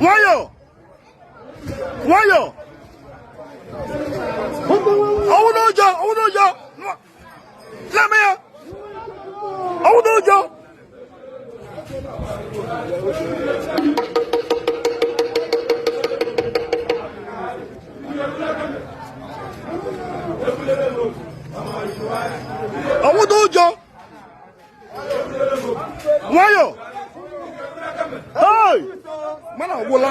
nwayọ nwayọ ọwụ n'ụjọ ọwụ n'ụjọ na-eme ya ọwụ n'ụjọ ọwụda ụjọ nwayọ mana ọ gwụla